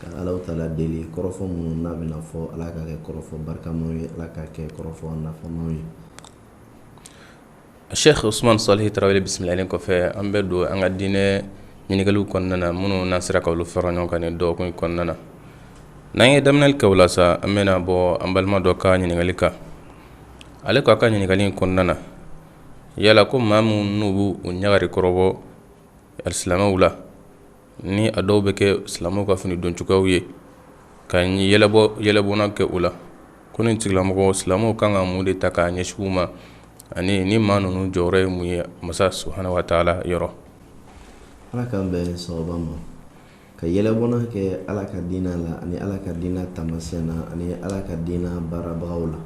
Ka ala taala deli kɔrɔfɔ minnu n'a bɛna fɔ ala ka kɛ kɔrɔfɔ barikama ye ala ka kɛ kɔrɔfɔ nafama ye asɛki osuman salihu tarawele bisimilali kɔfɛ an bɛ don an ka diinɛ ɲininkaliw kɔnɔna na minnu n'an sera k'olu fara ɲɔgɔn kan dɔgɔkun kɔnɔna na n'an ye daminɛli kɛ u la sa an bɛna bɔ an balima dɔ ka ɲininkali kan ale ko a ka ɲininkali in kɔnɔna na yala ko maa minnu n'u b'u ɲagari kɔrɔ bɔ silamɛw la ni a dɔw bɛ kɛ silamɛw ka fini don cogoyaw ye ka yɛlɛbɔ yɛlɛbɔnna kɛ u la ko nin tigilamɔgɔw silamɛw kan ka mun de ta k'a ɲɛsin u ma ani ni maa ninnu jɔyɔrɔ ye mun ye masa subuhana wa taala yɔrɔ ala k'an bɛɛ sɔrɔ ma ka yɛlɛbɔnna kɛ ala ka diinɛ la ani ala ka diinɛ taamasiyɛn na ani ala ka diinɛ baarabagaw la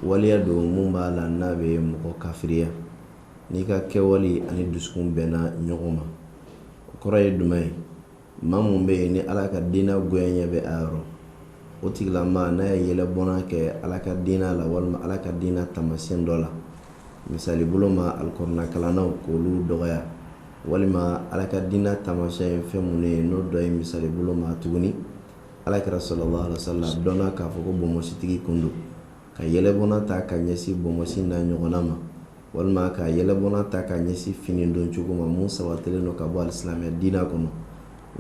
waleya don mun b'a la n'a bɛ mɔgɔ kafiriya n'i ka kɛwale ani dusukun bɛnna ɲɔgɔn ma o kɔrɔ ye jumɛn ye maa mun bɛ yen ni ala ka diina goyanye bɛ a yɔrɔ o tigilamaa n'a ye yɛlɛbɔnna kɛ ala ka diina la walima ala ka diina taamasiyɛn dɔ la misali bolo ma alikuranakalannaw k'olu dɔgɔya walima ala ka diina taamasiyɛn ye fɛn minnu ye n'o dɔ ye misali bolo ma tuguni ala kira salalahu alayihi wa salamu dɔnna k'a fɔ ko bonbonsitigi kun don ka yɛlɛbɔnna ta ka ɲɛsin bonbonsi n'a ɲɔgɔnna ma walima ka yɛlɛbɔnna ta ka ɲɛsin fini don cogo ma mun sabatilen don ka bɔ alisilamɛya diina kɔnɔ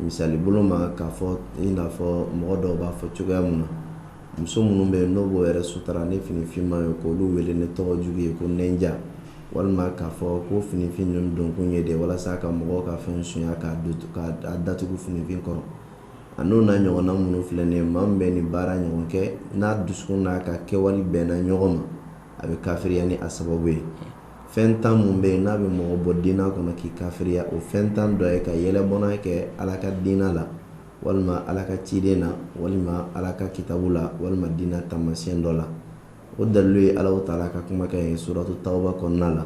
misali bolo ma k'a fɔ i n'a fɔ mɔgɔ dɔw b'a fɔ cogoya min na muso minnu bɛ yen n'o b'o yɛrɛ sutara ni finifinman ye k'olu wele ni tɔgɔ jugu ye ko ninja walima k'a fɔ ko finifin ninnu donkun ye de walasa ka mɔgɔw ka fɛn sunya k'a datugu finifin kɔrɔ An'o n'a ɲɔgɔnna minnu filɛ nin ye maa mun bɛ nin baara ɲɔgɔn kɛ n'a dusukun n'a ka kɛwale bɛnna ɲɔgɔn ma a bɛ kafiriya ni a sababu ye fɛn tan minnu bɛ yen n'a bɛ mɔgɔ bɔ diina kɔnɔ k'i kafiriya o fɛn tan dɔ ye ka yɛlɛbɔnna kɛ ala ka diina la walima ala ka ciden na walima ala ka kitabu la walima diina taamasiyɛn dɔ la o dalilu ye ala taala ka kumakan ye suratu tawuba kɔnɔna la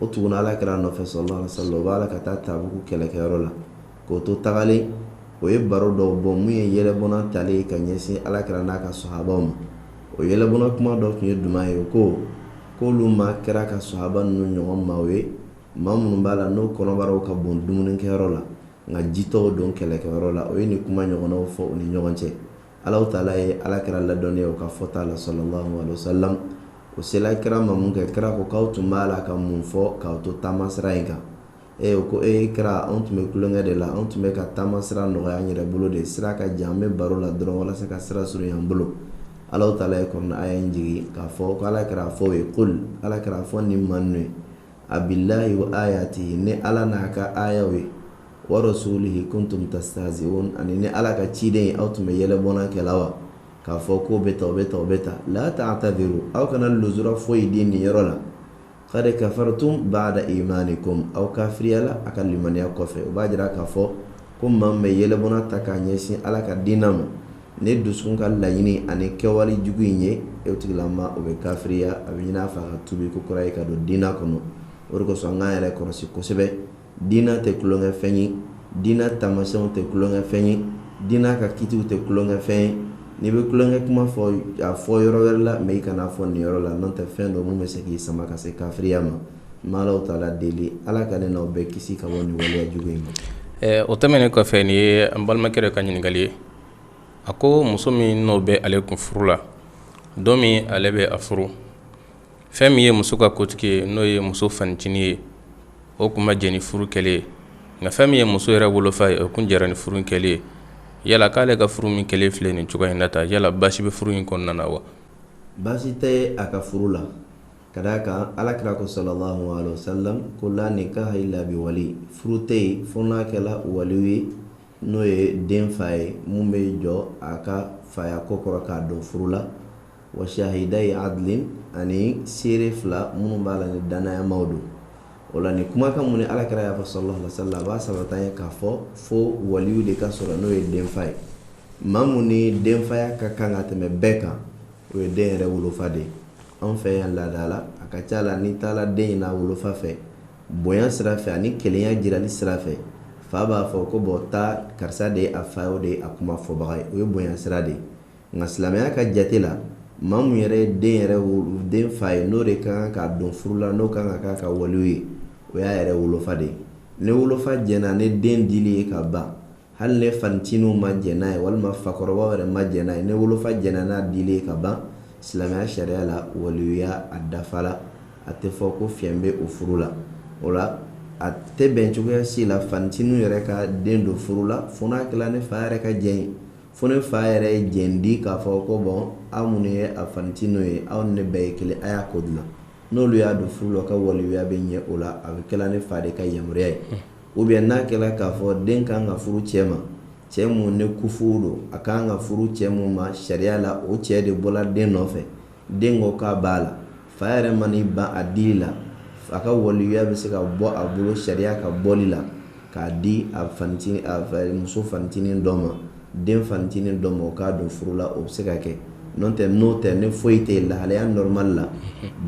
O tugunna ala kira nɔfɛ salalahu alayihi wa salamu u b'a la ka taa tabuku kɛlɛkɛyɔrɔ la k'o to tagalen o ye baro dɔw bɔ min ye yɛlɛbɔnna talen ye ka ɲɛsin ala kira n'a ka sahabaw ma o yɛlɛbɔnna kuma dɔ tun ye duman ye o ko k'olu ma kira ka sahaba ninnu ɲɔgɔn maaw ye maa minnu b'a la n'o kɔnɔbaraw ka bon dumunikɛyɔrɔ la nka jitɔw don kɛlɛkɛyɔrɔ la o ye nin kuma ɲɔgɔnna fɔ u ni ɲɔgɔn cɛ Ala taala ye ala kira ladɔnniya o ka fɔta la salalahu alayihi wa salamu o sela kira ma mun kɛ kira ko k'aw tun b'a la ka mun fɔ k'aw to taamasira in kan e ko e kira anw tun bɛ tulonkɛ de la anw tun bɛ ka taamasira nɔgɔya an yɛrɛ bolo de sira ka jan an bɛ baro la dɔrɔn walasa ka sira surunya an bolo ala taala ye kurana aya in jigin k'a fɔ ko ala kira a fɔ u ye kuli ala kira a fɔ nin maa ninnu ye abillahi wa ayatihi ni ala n'a ka ayaw ye wa rasulihi kuntum tastahzi'un ani ni ala ka ciden ye aw tun bɛ yɛlɛ bɔn kɛ la wa k'a fɔ ko bɛ taa la ta'tadiru aw kana luzura foyi di nin yɔrɔ la qad kafartum ba'da imanikum aw kafiriyala aw ka limaniya kɔfɛ o b'a jira k'a fɔ ko maa min bɛ yɛlɛ bɔn ta k'a ɲɛsin ala ka diinɛ ma Ni dusu ka laɲini ani kɛwale jugu in ye o tigilama o bɛ kafiriya a bɛ ɲini a fɛ ka tubi ko kura ye ka don diinɛ kɔnɔ o de kosɔn an ka yɛrɛ kɔlɔsi kosɛbɛ diinɛ tɛ tulonkɛfɛn ye diinɛ tamasiyɛnw tɛ tulonkɛfɛn ye diinɛ ka kitiw tɛ tulonkɛfɛn ye n'i bɛ tulonkɛ kuma fɔ a fɔ yɔrɔ wɛrɛ la mais i kana n'a fɔ nin yɔrɔ la n'o tɛ fɛn dɔ min bɛ se k'i sama ka se kafiriya ma an b'ala taala deli ala ka ne n'aw bɛɛ kisi ka bɔ nin waleya jugu in ma o tɛmɛnen kɔfɛ nin ye an balimakɛ dɔ ka ɲininkali ye a ko muso min n'o bɛ ale kun furu la don min ale bɛ a furu fɛn min ye muso ka kotigi ye n'o ye muso fanitinin ye o kun ma jɛ ni furu kɛlen ye nka fɛn min ye muso yɛrɛ wolofa ye o kun jɛra ni furu kɛlen ye yala k'ale ka furu min kɛlen filɛ nin cogoya in na ta yala baasi bɛ furu in kɔnɔna na wa baasi tɛ a ka furu la ka d'a kan ala kira ko sallallahu alayhi wasallam ko la nikaha illa bi wali furu tɛ yen fo n'a kɛla waliyu ye n'o ye den fa ye mun bɛ jɔ a ka faya ko kɔrɔ k'a don furu la wa shahidayi adlin ani seere fila minnu b'a la ni danayamaw don o la ni kumakan min ni ala kira y'a fɔ sallallahu alayhi wasallam a b'a sabatiya k'a fɔ fo waliyu de ka sɔrɔ n'o ye denfa ye maa min ni den faya ka kan ka tɛmɛ bɛɛ kan o ye den yɛrɛ wolofa de ye an fɛ yan laada la a ka ca la n'i taara den ɲini a wolofa fɛ bonya sira fɛ ani kelenya jirali sira fɛ fa b'a fɔ ko bon taa karisa de ye a fa o de ye a kuma fɔbaga ye o ye bonya sira de ye nka silamɛya ka jate la maa min yɛrɛ ye den yɛrɛ den fa ye n'o de ka kan k'a don furu la n'o kan ka k'a ka waliyu ye o y'a yɛrɛ wolofa de ye ni wolofa jɛna ni den dili ye ka ban hali ni fanitininw ma jɛ n'a ye walima fakɔrɔbaw yɛrɛ ma jɛ n'a ye ni wolofa jɛna n'a dili ye ka ban silamɛya sariya la waliyuya a dafala a tɛ fɔ ko fiɲɛ bɛ o furu la o la a tɛ bɛn cogoya si la fanitininw yɛrɛ ka den don furu la fo n'a kɛla ni fa yɛrɛ ka jɛn ye fo ni fa yɛrɛ ye jɛn di k'a fɔ ko bon aw minnu ye a fanitininw ye aw ni ne bɛɛ ye kelen a y'a ko dilan n'olu y'a don furu la ka waliyuya bɛ ɲɛ o la a bɛ kɛla ni fa de ka yamaruya ye ou bien n'a kɛla k'a fɔ den ka kan ka furu cɛ ma cɛ mun ni kufu don a ka kan ka furu cɛ mun ma sariya la o cɛ de bɔla den nɔfɛ den ko k'a b'a la fa yɛrɛ man'i ban a dili la a ka waliyuya bɛ se ka bɔ a bolo sariya ka bɔli la k'a di a fanitinin a muso fanitinin dɔ ma den fancinin dɔ ma o k'a don furu la o bɛ se ka kɛ n'o tɛ n'o tɛ ni foyi tɛ yen lahalaya normal la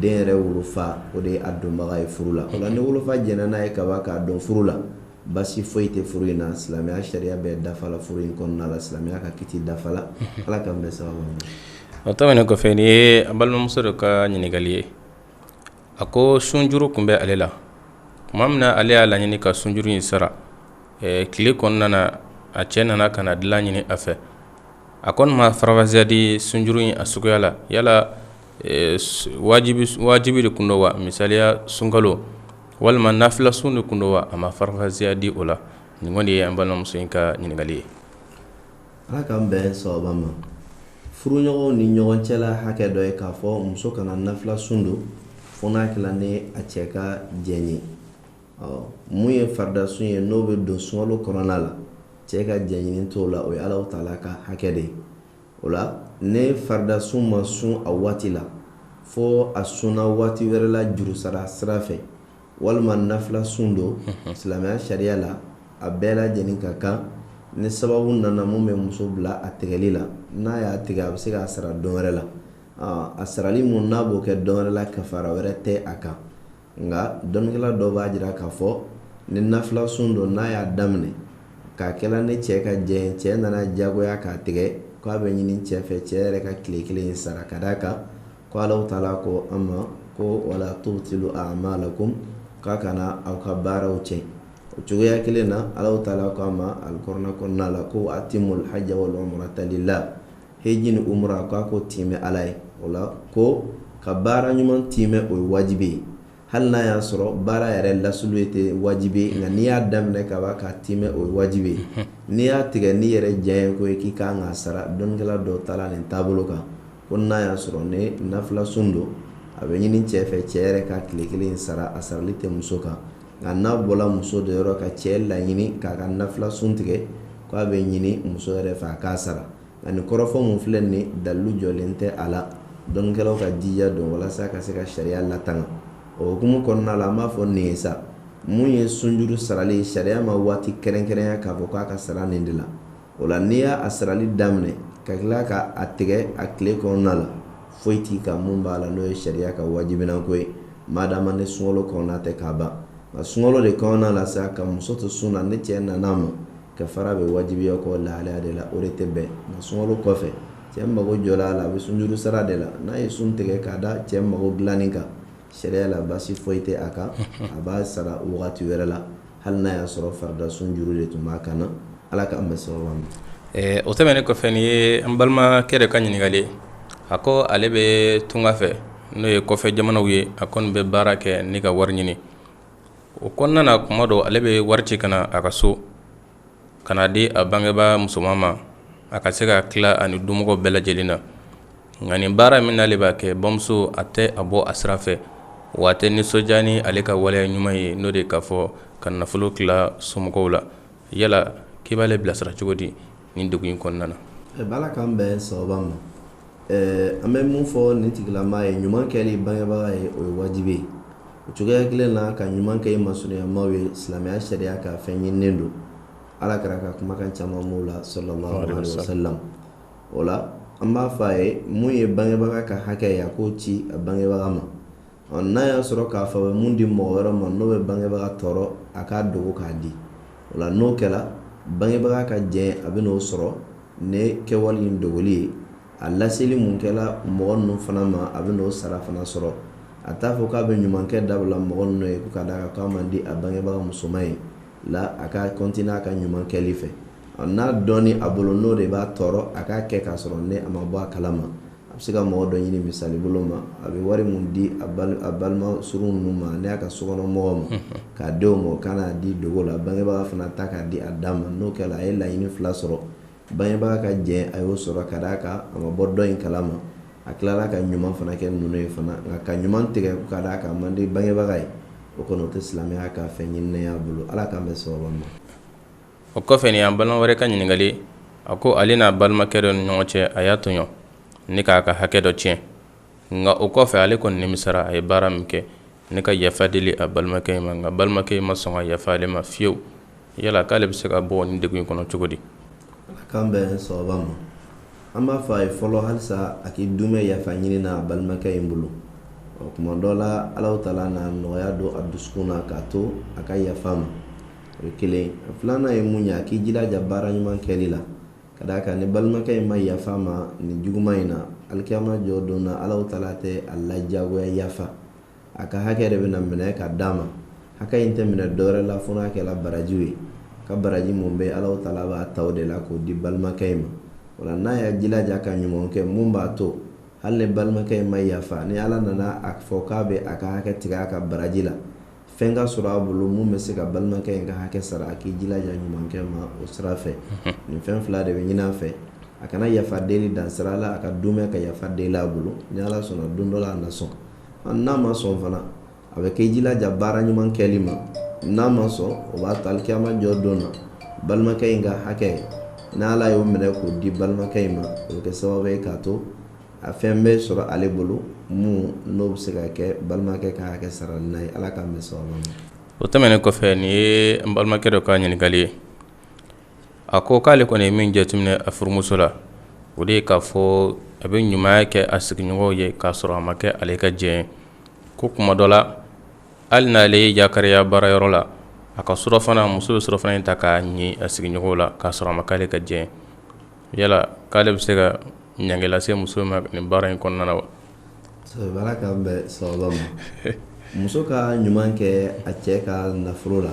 den yɛrɛ wolofa o de ye a donbaga ye furu la o la ni wolofa jɛnna n'a ye ka ban k'a don furu la basi foyi tɛ furu in na silamɛya sariya bɛɛ dafala furu in kɔnɔna la silamɛya ka kiti dafala ala k'an bɛn sawaba ma o tɛmɛnen kɔfɛ nin ye an balimamuso dɔ ka ɲininkali ye A ko sunjuru kun bɛ ale la tuma min na ale y'a laɲini ka sunjuru in sara tile kɔnɔna na a cɛ nana ka na dilan ɲini a fɛ a kɔni ma farafasiya di sunjuru in a suguya la yala wajibi de kun don wa misaliya sunkalo walima nafila sun de kun don wa a ma farafasiya di o la nin kɔni de ye an balimamuso in ka ɲininkali ye Ala k'an bɛn sawaba ma furuɲɔgɔnw ni ɲɔgɔn cɛla hakɛ dɔ ye k'a fɔ muso kana nafila sun don fo n'a kɛla ni a cɛ ka jɛn ye ɔ mun ye farida sun ye n'o bɛ don sunkalo kɔnɔna la cɛ ka jɛn ɲini t'o la o ye alahu taala ka hakɛ de ye o la ni farida sun ma sun a waati la fo a sunna waati wɛrɛ la juru sara sira fɛ walima nafila sun don silamɛya sariya la a bɛɛ lajɛlen ka kan ni sababu nana mun bɛ muso bila a tigɛli la n'a y'a tigɛ a bɛ se k'a sara don wɛrɛ la a sarali mun n'a b'o kɛ don wɛrɛ la kafara wɛrɛ tɛ a kan nka dɔnnikɛla dɔ b'a jira k'a fɔ ni nafila sun don n'a y'a daminɛ k'a kɛla ni cɛ ka jɛn cɛ nana diyagoya k'a tigɛ k'a bɛ ɲini cɛ fɛ cɛ yɛrɛ ka tile kelen in sara ka d'a kan Ko alahu taala ko an ma ko wala tubtilu a'malakum k'a kana aw ka baaraw cɛn o cogoya kelen na alahu taala ko an ma alikurana kɔnɔna la ko wa atimul hajja wal umrata lillah heji ni umura k'a ko tiimɛ ala ye o la ko ka baara ɲuman tiimɛ o ye wajibi ye hali n'a y'a sɔrɔ baara yɛrɛ lasiliya tɛ wajibi ye nka n'i y'a daminɛ ka ban k'a tiimɛ o ye wajibi ye n'i y'a tigɛ n'i yɛrɛ diyanyeko ye k'i ka kan k'a sara dɔnnikɛla dɔw taala nin taabolo kan ko n'a y'a sɔrɔ ni nafila sun don a bɛ ɲini cɛ fɛ cɛ yɛrɛ ka tile kelen sara a sarali tɛ muso kan nka n'a bɔla muso de yɔrɔ ka cɛ laɲini k'a ka nafila sun tigɛ k'a bɛ ɲini muso yɛrɛ fɛ a k'a sara nka nin kɔrɔfɔ mun filɛ nin ye dalilu jɔlen tɛ a la dɔnnikɛlaw ka jija don walasa ka se ka sariya latanga o hukumu kɔnɔna la an b'a fɔ nin ye sa mun ye sunjuru sarali ye sariya ma waati kɛrɛnkɛrɛnya k'a fɔ k'a ka sara nin de la o la n'i y'a sarali daminɛ ka tila ka a tigɛ a tile kɔnɔna la foyi t'i kan mun b'a la n'o ye sariya ka wajibinan-ko ye madama ni sunkalo kɔnɔna tɛ k'a ban nka sunkalo de kɔnɔna la sa ka muso to sun na ni cɛ nana a ma kafara bɛ wajibiya kɔ lahalaya de la o de tɛ bɛn nka sunkalo kɔfɛ cɛ mago jɔra a la a bɛ sunjuru sara de la n'a ye sun tigɛ k'a da cɛ mago dilanni kan sariya la basi foyi tɛ a kan a b'a sara wagati wɛrɛ la hali n'a y'a sɔrɔ farida sunjuru de tun b'a kan na ala k'an bɛn sababa ma ɛɛ o tɛmɛnnen kɔfɛ nin ye an balimakɛ de ka ɲininkali a ko ale bɛ tunga fɛ n'o ye kɔfɛ jamanaw ye a kɔni bɛ baara kɛ ni ka wari ɲini o kɔnɔna na kuma dɔ ale bɛ wari ci ka na a ka so ka na di a bangebaa musoman ma a ka se ka tila ani dumɔgɔw bɛɛ lajɛlen na nka nin baara min n'ale b'a kɛ bamuso a tɛ a bɔ a sira fɛ wa a tɛ nisɔndiya ni ale ka waleya ɲuman ye n'o de k'a fɔ ka nafolo tila somɔgɔw la yala k'i b'ale bilasira cogo di nin degun in kɔnɔna na ba ala k'an bɛn sababa ma an bɛ min fɔ nin tigilama ye ɲuman kɛli bangebaga ye o ye wajibi ye o cogoya kelen na ka ɲuman kɛ i masurunyamaaw ye silamɛya sariya ka fɛn ɲininen don ala kira ka kumakan caman b'o la sallallahu alaihi wasallam o la an b'a fɔ a ye mun ye bangebaga ka hakɛ ye a k'o ci a bangebaga ma Ɔ n'a y'a sɔrɔ k'a fɔ a bɛ mun di mɔgɔ wɛrɛ ma n'o bɛ bangebaga tɔɔrɔ a k'a dogo k'a di o la n'o kɛra bangebaga ka jɛn a bɛ n'o sɔrɔ ni kɛwale in dogoli ye a laseli mun kɛla mɔgɔ ninnu fana ma a bɛ n'o sara fana sɔrɔ a t'a fɔ k'a bɛ ɲumankɛ dabila mɔgɔ ninnu ye ka d'a kan k'a man di a bangebaga musoman ye la a ka kɔntine n'a ka ɲuman kɛli fɛ ɔ n'a dɔnni a bolo n'o de b'a tɔɔrɔ a k'a kɛ k'a sɔrɔ ne a ma bɔ a kalama a bɛ se ka mɔgɔ dɔ ɲini misali bolo ma a bɛ wari min di a balima surun ninnu ma n'o y'a ka sokɔnɔ mɔgɔw ma k'a denw ma ka n'a di dogo la bangebaa fana ta k'a di a dama n'o kɛra a ye laɲini fila sɔrɔ bangebaa ka jɛn a y'o sɔrɔ ka d'a kan a ma bɔ dɔ in kalama a tilala ka ɲuman fana kɛ ninnu ye fana nka ka ɲuman tigɛ ka d'a kan man di bangebaga ye o kɔni o tɛ silamɛya ka fɛn ɲininen y'a bolo ala k'an bɛn sababa ma o kɔfɛ nin y'an balima wɛrɛ ka ɲininkali a ko ale n'a balimakɛ dɔ ni ɲɔgɔn cɛ a y'a tɔɲɔ ni k'a ka hakɛ dɔ tiɲɛ nka o kɔfɛ ale kɔni nimisara a ye baara min kɛ ni ka yafa deli a balimakɛ in ma nka balimakɛ in ma sɔn ka yafa ale ma fiyewu yala k'ale bɛ se ka bɔ nin degun in kɔnɔ cogo di ala k'an bɛn sababa ma an b'a fɔ a ye fɔlɔ halisa a k'i duumɛ yafa ɲini na a balimakɛ in bolo o tuma dɔ la ala taala na nɔgɔya don a dusu na k'a to a ka yafa ma o ye kelen filanan ye mun ye a k'i jilaja baara ɲuman kɛli la ka d'a kan ni balimakɛ in ma yafa ma nin juguman in na alikiyama jɔ don na ala taala tɛ a lajagoya yafa a ka hakɛ de bɛna minɛ ka d'a ma hakɛ in tɛ minɛ dɔwɛrɛ la fo n'a kɛla barajiw ye ka baraji mun bɛ ala taala b'a ta o de la k'o di balimakɛ in ma o la n'a y'a jilaja ka ɲuman kɛ mun b'a to hali ni balimakɛ in ma yafa ni ala nana a fɔ k'a bɛ a ka hakɛ tigɛ a ka baraji la fɛn ka sɔrɔ a bolo mun bɛ se ka balimakɛ in ka hakɛ sara a k'i jilaja ɲumankɛ ma o sira fɛ nin fɛn fila de bɛ ɲinin a fɛ a kana yafa deli dan sira la a ka tɛmɛ ka yafa deli a bolo ni ala sɔnna don dɔ la a na sɔn n'a ma sɔn fana a bɛ k'i jilaja baara ɲuman kɛli ma n'a ma sɔn o b'a to alikiyama jɔ don na balimakɛ in ka hakɛ n'ala y'o minɛ k'o di balimakɛ in ma o bɛ kɛ sababu ye k'a to A fɛn bɛ sɔrɔ ale bolo mun n'o bɛ se ka kɛ balimakɛ ka hakɛ saralan ye ala k'an bɛn sawaba ma o tɛmɛnen kɔfɛ nin ye n balimakɛ dɔ ka ɲininkali ye a ko k'ale kɔni ye min jateminɛ a furumuso la o de ye k'a fɔ a bɛ ɲumanya kɛ a sigiɲɔgɔn ye k'a sɔrɔ a ma kɛ ale ka jɛ ko kuma dɔ la hali n'ale ye yakariya baarayɔrɔ la a ka surɔfana muso bɛ surɔfana in ta k'a ni a sigiɲɔgɔn la k'a sɔrɔ a ma k'ale ka jɛ yala k'ale bɛ se ka ɲangi lase muso ma nin baara in kɔnɔna na wa ala k'an bɛn sawaba ma muso ka ɲuman kɛ a cɛ ka nafolo la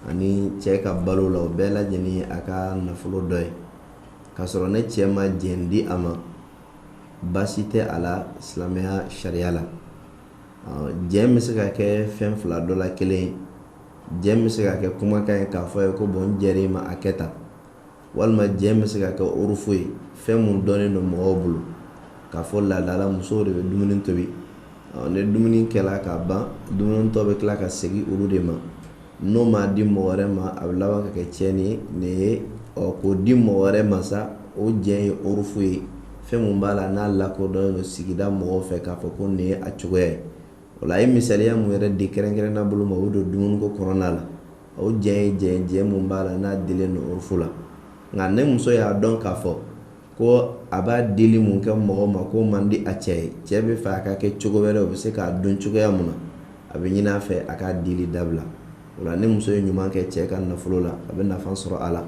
ani cɛ ka balo la o bɛɛ lajɛlen a ka nafolo dɔ ye k'a sɔrɔ ni cɛ ma jɛ di a ma baasi tɛ a la silamɛya sariya la jɛ bɛ se ka kɛ fɛn fila dɔ la kelen jɛ bɛ se ka kɛ kumakan ye k'a fɔ i ye ko bon n jɛr'i ma a kɛ tan walima jɛ bɛ se ka kɛ urufu ye fɛn mun dɔnnen don mɔgɔw bolo k'a fɔ laada la musow de bɛ dumuni tobi ni dumuni kɛla ka ban dumunitɔ bɛ tila ka segin olu de ma n'o ma di mɔgɔ wɛrɛ ma a bɛ laban ka kɛ tiɲɛni ye nin ye k'o di mɔgɔ wɛrɛ ma sa o jɛ ye urufu ye fɛn mun b'a la n'a lakodɔnnen don sigida mɔgɔw fɛ k'a fɔ ko nin ye a cogoya ye O la a ye misaliya mun yɛrɛ di kɛrɛnkɛrɛnna bolo ma o don dumuniko kɔnɔna la o jɛ ye jɛ jɛ mun b'a la n'a dilen don urufu la nka ni muso y'a dɔn k'a fɔ ko a b'a dili mun kɛ mɔgɔ ma k'o man di a cɛ ye cɛ b'a fɛ a ka kɛ cogo wɛrɛ o bɛ se k'a dɔn cogoya mun na a bɛ ɲinin a fɛ a k'a dili dabila o la ni muso ye ɲuman kɛ cɛ ka nafolo la a bɛ nafa sɔrɔ a la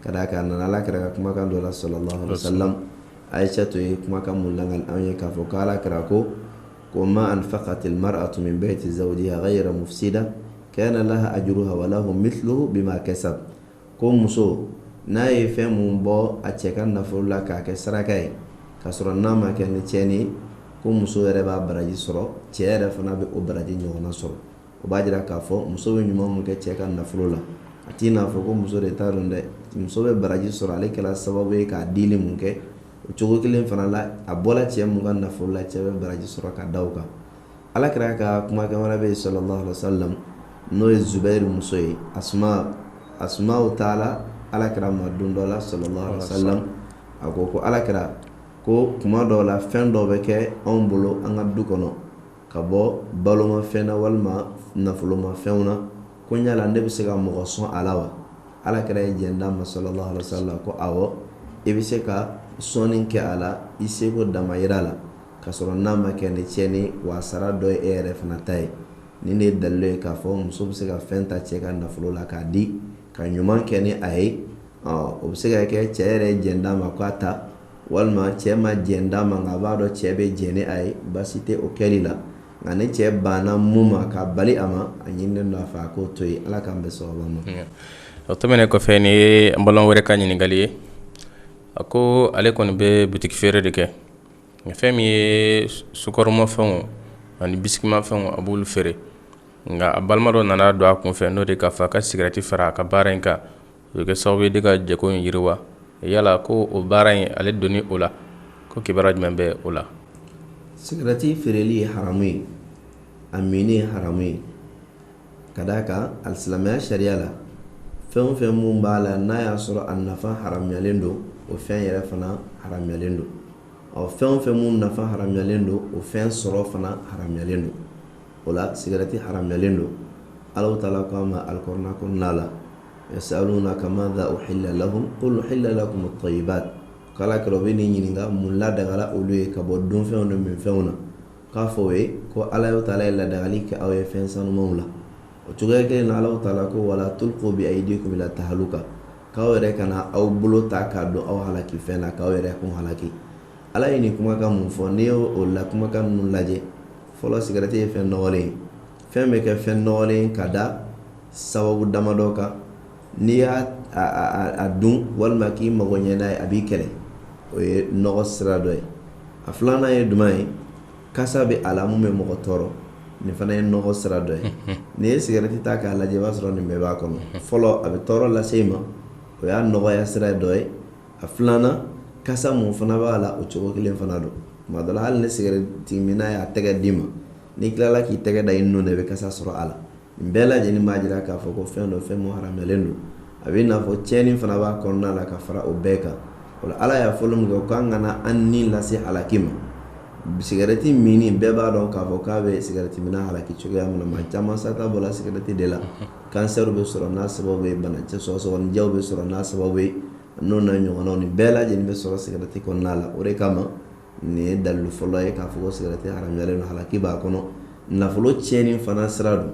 ka d'a kan a nana ala kira ka kumakan dɔ la sallallahu alaihi wasallam Aisha tun ye kumakan mun lakali an ye k'a fɔ ko ala kira ko ko ma anfaqat almar'atu min bayti zawjiha ghayra mufsida kana laha ajruha wa lahu mithluhu bima kasab ko muso n'a ye fɛn mun bɔ a cɛ ka nafolo la k'a kɛ saraka ye k'a sɔrɔ n'a ma kɛ ni tiɲɛni ye ko muso yɛrɛ b'a baraji sɔrɔ cɛ yɛrɛ fana bɛ o baraji ɲɔgɔnna sɔrɔ o b'a jira k'a fɔ muso bɛ ɲuman mun kɛ cɛ ka nafolo la a t'i n'a fɔ ko muso de ta don dɛ muso bɛ baraji sɔrɔ ale kɛra sababu ye k'a dili mun kɛ o cogo kelen fana la a bɔra cɛ mun ka nafolo la cɛ bɛ baraji sɔrɔ ka d'a kan ala kira ka kumakan wɛrɛ bɛ yen sallallahu alaihi wasallam n'o ye Zubɛri muso ye Asma taala ala kira ma don dɔ la sallallahu alaihi wasallam a ko ko ala kira ko kuma dɔw la fɛn dɔ bɛ kɛ anw bolo an ka du kɔnɔ ka bɔ balomafɛn na walima nafolomafɛnw na ko yala ne bɛ se ka mɔgɔ sɔn a la wa ala kira ye jɛn d'a ma sallallahu alaihi wa sallam ko awɔ i bɛ se ka sɔnni kɛ a la i seko damayira la ka sɔrɔ n'a ma kɛ ni tiɲɛni wa sara dɔ ye e yɛrɛ fana ta ye nin ye dalilu ye k'a fɔ muso bɛ se ka fɛn ta cɛ ka nafolo la k'a di ka ɲuman kɛ ni a ye o bɛ se ka kɛ cɛ yɛrɛ ye jɛn d'a ma k'a ta walima cɛ ma jɛn d'a ma nka a b'a dɔn cɛ bɛ jɛn ni a ye baasi tɛ o kɛli la nka ni cɛ banna mun ma k'a bali a ma a ɲininen don a fɛ a k'o to yen ala k'an bɛn sawaba ma o tɛmɛnen kɔfɛ nin ye an balima wɛrɛ ka ɲininkakali ye a ko ale kɔni bɛ bitigi feere de kɛ nka fɛn min ye sukaromafɛnw ani bisikimafɛnw a b'olu feere nka a balima dɔ nana don a kun fɛ n'o de k'a fɔ a ka sigarɛti fara a ka baara in kan o bɛ kɛ sababu ye de ka jago in yiriwa yala ko o baara in ale donni o la ko kibaruya jumɛn bɛ o la sigarɛti feereli ye haramu ye a minni ye haramu ye ka d'a kan alisilamɛya sariya la fɛn o fɛn mun b'a la n'a y'a sɔrɔ a nafa haramuyalen don o fɛn yɛrɛ fana haramuyalen don ɔ fɛn o fɛn mun nafa haramuyalen don o fɛn sɔrɔ fana haramuyalen don o la sigarɛti haramuyalen don ala taala ko a ma alikurana kɔnɔna la yasalunaka madha uhilla lahum qul uhilla lakum at-tayyibat k'ala kira bɛn'i ɲininka mun ladagala olu ye ka bɔ dunfɛnw ni minfɛnw na k'a fɔ o ye ko alahu taala ye ladagali kɛ aw ye fɛn sanumanw la o cogoya kelen na ala taala ko wala tulqu bi aydikum ila tahaluka k'aw yɛrɛ kana aw bolo ta k'a don aw halaki fɛn na k'aw yɛrɛ kun halaki ala ye nin kumakan mun fɔ n'i y'o la kumakan ninnu lajɛ fɔlɔ sigarɛti ye fɛn nɔgɔlen ye fɛn bɛ kɛ fɛn nɔgɔlen ka da sababu damadɔ kan n'i y'a dun walima k'i mago ɲɛ n'a ye a b'i kɛlɛ o ye nɔgɔ sira dɔ ye a filanan ye jumɛn ye kasa bɛ a la min bɛ mɔgɔ tɔɔrɔ nin fana ye nɔgɔ sira dɔ ye n'i ye sigarɛti ta k'a lajɛ i b'a sɔrɔ nin bɛɛ b'a kɔnɔ fɔlɔ a bɛ tɔɔrɔ lase i ma o y'a nɔgɔya sira dɔ ye a filanan kasa mun fana b'a la o cogo kelen fana don tuma dɔ la hali ni sigarɛti minna y'a tɛgɛ d'i ma n'i tilala k'i tɛgɛ da i nun na i bɛ kasa sɔrɔ a la nin bɛɛ lajɛlen b'a jira k'a fɔ ko fɛn don fɛn mun haramuyalen don a bɛ i n'a fɔ tiɲɛni fana b'a kɔnɔna la ka fara o bɛɛ kan o la ala y'a fɔli min kɛ o k'an kana an ni lase halaki ma sigɛrɛti minni bɛɛ b'a dɔn k'a fɔ k'a bɛ sigɛrɛti minna halaki cogoya min na maa caman sata bɔra sigɛrɛti de la kansɛriw bɛ sɔrɔ n'a sababu ye bana sɔgɔsɔgɔninjɛw bɛ sɔrɔ n'a sababu ye n'o n'a ɲɔgɔnnaw nin bɛɛ lajɛlen bɛ sɔrɔ sigɛrɛti kɔnɔna la o de kama nin ye dalilu fɔlɔ ye k'a fɔ ko sigarɛti haramuyalen don halaki b'a kɔnɔ nafolo tiɲɛni fana sira don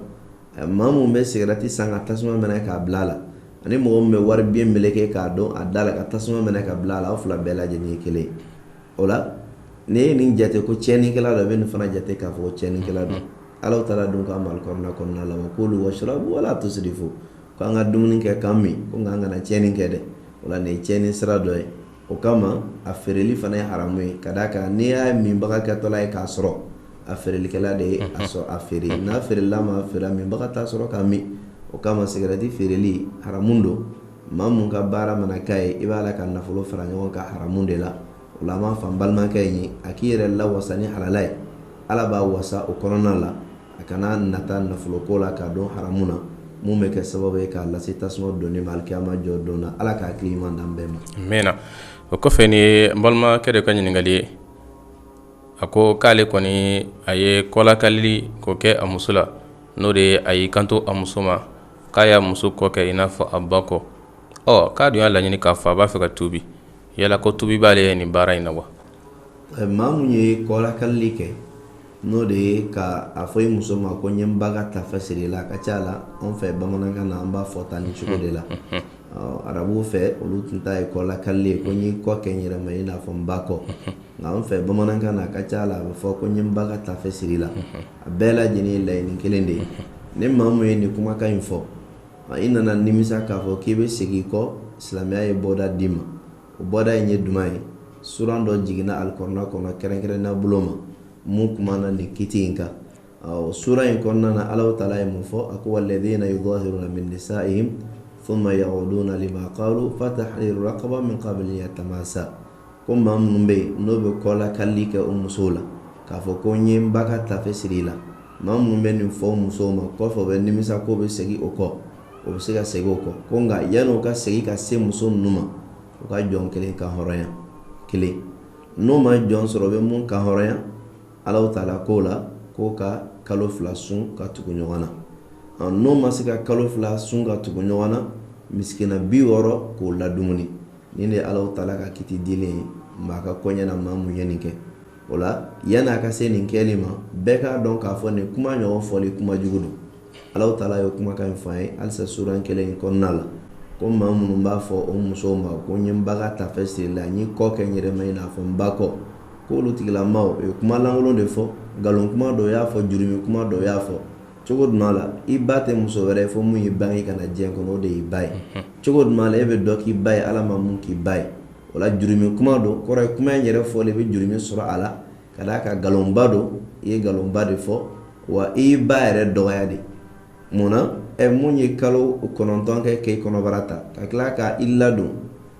maa min bɛ sigarɛti san ka tasuma minɛ k'a bila a la ani mɔgɔ min bɛ wari biye meleke k'a don a da la ka tasuma minɛ k'a bila a la aw fila bɛɛ lajɛlen ye kelen ye o la n'i ye nin jate ko tiɲɛnikɛla don i bɛ nin fana jate k'a fɔ ko tiɲɛnikɛla don Alahu Taala dun k'an ma alikɔrɔna kɔnɔna la wa kulu washrabu wala tusirifu k'an ka dumuni kɛ k'an min ko nka an kana tiɲɛni kɛ dɛ o la nin ye tiɲɛni sira dɔ ye O kama a feereli fana ye haramu ye ka d'a kan n'i y'a minbaga kɛtɔla ye k'a sɔrɔ a feerelikɛla de ye a sɔrɔ a feere n'a feerela ma feere minbaga t'a sɔrɔ k'a min o kama sigarɛti feereli haramu don maa min ka baara mana k'a ye i b'a la ka nafolo fara ɲɔgɔn kan haramu de la o la an b'a fɔ an balimakɛ in ye a k'i yɛrɛ lawasa ni halala ye Ala b'a wasa o kɔnɔna la a kana nata nafoloko la k'a don haramu na mun bɛ kɛ sababu ye k'a lase tasuma donni ma alikiyama jɔ don na Ala ka hakili ɲuman d'an bɛɛ ma amiina o kɔfɛ nin ye n balimakɛ dɔ ka ɲininkali ye a ko k'ale kɔni a ye kɔlakalili k'o kɛ a muso la n'o de ye a y'i kanto a muso ma k'a y'a muso kɔ kɛ i n'a fɔ a ba kɔ ɔ k'a dun y'a laɲini k'a fɔ a b'a fɛ ka tuubi yala ko tuubi b'ale ye nin baara in na wa maa min ye kɔlakalili kɛ n'o de ye ka a fɔ i muso ma ko n ye n ba ka tafe siri i la a ka ca a la anw fɛ bamanankan na an b'a fɔ tan ni cogo de la arabuw fɛ olu tun ta ye kɔlakali ye ko n y'i kɔ kɛ n yɛrɛ ma i n'a fɔ n ba kɔ nka an fɛ bamanankan na a ka ca a la a bɛ fɔ ko n ye n ba ka tafe siri i la a bɛɛ lajɛlen laɲini kelen de ye ni maa min ye nin kumakan in fɔ i nana nimisa k'a fɔ k'i bɛ segin i kɔ silamɛya ye bɔda d'i ma O bɔda in ye duman ye suran dɔ jiginna alikɔrɔna kɔnɔ kɛrɛnkɛrɛnnenya bolo ma mun kumana nin kiti in kan suran in kɔnɔna na Alahu Taala ye mun fɔ a ko walladhina yudahiruna min nisaihim thumma ya'uduna lima qalu fatahriru raqaba min qabli yatamasa ko maa minnu bɛ yen n'o bɛ kɔlakalili kɛ o musow la k'a fɔ ko n ye n ba ka taafe siri i la maa minnu bɛ nin fɔ musow ma kɔfɛ o bɛ nimisa k'o bɛ segin o kɔ o bɛ se ka segin o kɔ ko nka yanni o ka segin ka se muso ninnu ma u ka jɔn kelen kanhɔrɔnya kelen n'o ma jɔn sɔrɔ o bɛ mun kanhɔrɔnya Alahu Taala ko o la k'o ka kalo fila sun ka tugu ɲɔgɔn na n'o ma se ka kalo fila sun ka tugu ɲɔgɔn na misikiina bi wɔɔrɔ k'o ladumuni nin de Alahu Taala ka kiti ye maa ka kɔɲɛ na maa mun ye nin kɛ o la yanni a ka se nin kɛli ma bɛɛ k'a dɔn k'a fɔ nin kuma ɲɔgɔn fɔli kuma jugu don Ala taala ye kumakan in fɔ an ye halisa suran kelen in kɔnɔna la ko maa minnu b'a fɔ o musow ma ko n ye n ba ka tafe siri la n y'i kɔ kɛ n yɛrɛ ma i n'a fɔ n ba kɔ k'olu tigilama o ye kuma lankolon de fɔ nkalon kuma don o y'a fɔ jurumi kuma don o y'a fɔ cogo jumɛn la i ba tɛ muso wɛrɛ ye fo min y'i bange ka na diɲɛ kɔnɔ o de y'i ba ye cogo jumɛn e bɛ dɔ k'i ba ye ala ma min k'i ba ye o jurumi kuma don kɔrɔ ye kuma in yɛrɛ fɔlen i bɛ jurumi sɔrɔ a la ka d'a kan nkalonba don i ye nkalonba de fɔ wa i y'i ba yɛrɛ dɔgɔya de mun na ɛ mun ye kalo kɔnɔntɔn kɛ k'i kɔnɔbara ta ka tila ka i ladon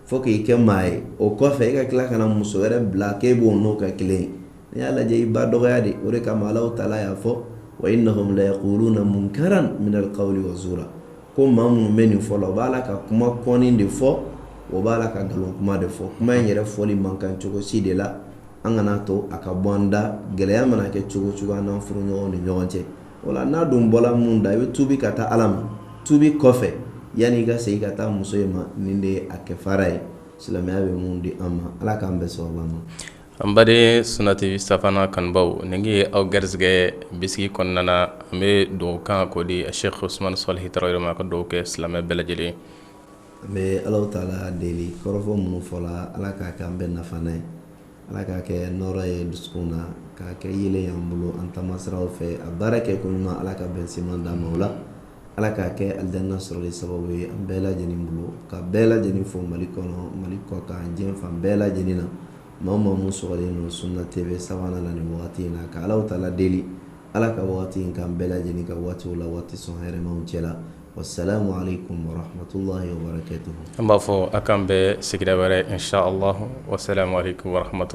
fo k'i kɛ maa ye o kɔfɛ i ka tila ka na muso wɛrɛ bila k'e b'o n'o kɛ kelen ye n'i y'a lajɛ i ba dɔgɔya de o de kama Alahu taala y'a fɔ wa innahum layakuluna munkaran minal qawli wa zuura ko maa minnu bɛ nin fɔ la o b'a la ka kuma kɔni de fɔ o b'a la ka nkalon kuma de fɔ kuma in yɛrɛ fɔli man kan cogo si de la an kana to a ka bɔ an da gɛlɛya mana kɛ cogo cogo an n'an furuɲɔgɔn ni ɲɔgɔn cɛ o la n'a dun bɔla mun da i bɛ tuubi ka taa ala ma tuubi kɔfɛ yanni i ka segin ka taa muso in ma nin de ye a kɛfara ye silamɛya bɛ mun di an ma ala k'an bɛɛ sɔrɔ ma An baden Sunna TV Savana kanubaw nin ye aw garisɛgɛ bi sigi kɔnɔna na an bɛ dugawu kan k'o di Sheikh Usmane Salihi Tarawele ma ka dugawu kɛ silamɛ bɛɛ lajɛlen an bɛ ala taala deli kɔrɔfɔ minnu fɔla ala k'a kɛ an bɛɛ nafa ye ala k'a kɛ nɔɔrɔ ye dusukun na k'a kɛ yeelen y'an bolo an taama siraw fɛ a baara kɛ ko ɲuman ala ka bɛn seman d'an ma o la ala k'a kɛ alijinɛ sɔrɔ sababu ye an bɛɛ lajɛlen bolo ka bɛɛ lajɛlen fo Mali kɔnɔ Mali kɔkan diɲɛ fan bɛɛ lajɛlen na maa o maa minnu sɔgɔlen don sunna TV Savana na nin wagati in na ka Alahu taala deli Ala ka wagati in k'an bɛɛ lajɛlen ka waatiw la waati sɔn hɛrɛmaw cɛla wa salamu aleyikum wa rahamatulahi wa barakatuhu an b'a fɔ a k'an bɛn sigida wɛrɛ in sha Allah wa salamu aleyikum wa rahamatulahi